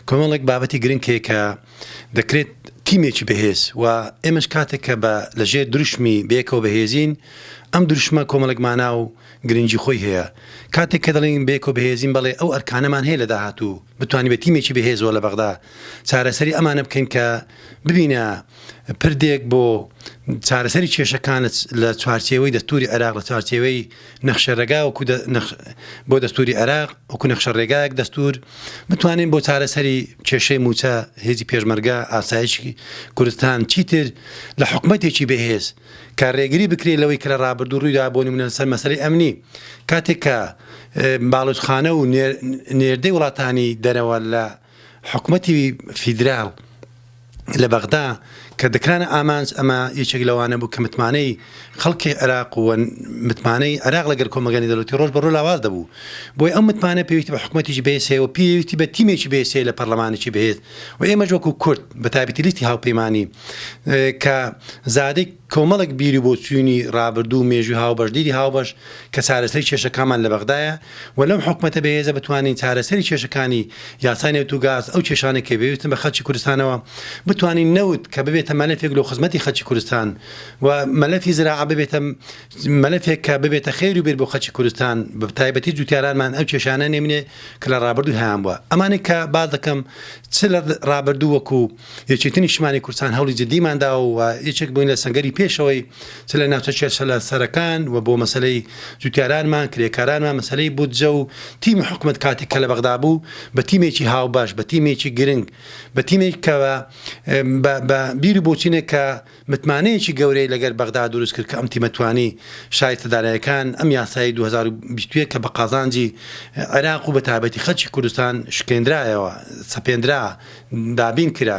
کۆمەڵێک بابەتی گرنگ هەیە کە دەکرێت تیمێکی بەهێز و ئێمەش کاتێک کە بە لەژێر دروشمی بێکەوە بەهێزین ئەم دروشمە کۆمەڵێک مانا و گرنگی خۆی هەیە کاتێک کە دەڵین بێکەوە بەهێزین بەڵێ ئەو ئەرکانەمان هەیە لە داهاتوو بتوانانی بە تیمێکی بەهێزەوە لە بەغدا چارەسەری ئەمانە بکەین کە ببینە پردێک بۆ چارەسەری کێشەکانت لە چوارچێوەی دەستوری عێراق لە چوارچێوەی نەخشە رێگا وەکو بۆ دەستوری عێراق وەکو نەخشە رێگایەک دەستور بتوانین بۆ چارەسەری کێشەی موچە هێزی پێشمەرگە ئاسایشی کوردستان چیتر لە حکومەتێکی بەهێز کە رێگری بکرێ لەوەی کە لە رابردوو روویدا بۆ نمونە لەسەر مەسەری ئەمنی کاتێک کە باڵوتخانە و نێردەی وڵاتانی دەرەوە لە حکومەتی فیدرال لە بەغدا کە دەکرانە ئامانج، ئەمە یەکێک لەوانە بوو کە متمانەی خەڵکی عێراق و متمانەی عێراق لەگەل کۆمەڵگای نێودەوڵەتی رۆژ بە رۆژ لاواز دەبوو. بۆیە ئەو متمانە پێویستی بە حکومەتێکی بەهێز هەیە و پێویستی بە تیمێکی بەهێز هەیە لە پەرلەمانێکی بەهێز و ئێمەش وەکو کورد بە تایبەتی لیستی هاوپەیمانی کە زادەی کۆمەڵێک بیر و بۆچوونی ڕابردوو و مێژووی هاوبەش، دیدی هاوبەش کە چارەسەری کێشەکانمان لە بەغدایە و لەم حکومەتە بەهێزە بتوانین چارەسەری کێشەکانی یاسای نەوت و گاز، ئەو کێشانەی کە بێویستن بە خەلکی کوردستانەوە بتوانین نەوت کە ببێتە مەلەفێک لۆ خزمەتی خەلکی کوردستان و مەلەفی زراعە ببێتە مەلەفێک کە ببێتە خێر و بێر بۆ خەلکی کوردستان بە تایبەتی جوتیارانمان ئەو کێشانە نەیمنێ کە لە ڕابردوو هەیان بووە ئەمانەی کە باس دەکەم چ لە ڕابردوو وەکوو یەکێتی نیشتمانی کوردستان هەوڵی جدیمان داوە و یەکێک بووین لە سەنگەری پێشەوەی چ لە ناوچە کێشەلە سەرەکان و بۆ مەسەلەی جوتیارانمان، کرێکارانمان، مەسەلەی بودجە و تیمی حکومەت کاتێک کە لە بەغدا بوو بە تیمێکی هاوبەش، بە تیمێکی گرنگ، بە تیمێک کە بە بیر و بۆچونێک کە متمانەیەکی گەورەی لەگەر بەغدا دروست کرد کە ئەم تیمە توانی شایستە دارایەکان ئەم یاسای دوو هەزار و بیست و یەک کە بە قازانجی عێراق و بە تایبەتی خەلکی کوردستان شکێندرایەوە، سەپێندرا، دابین کرا.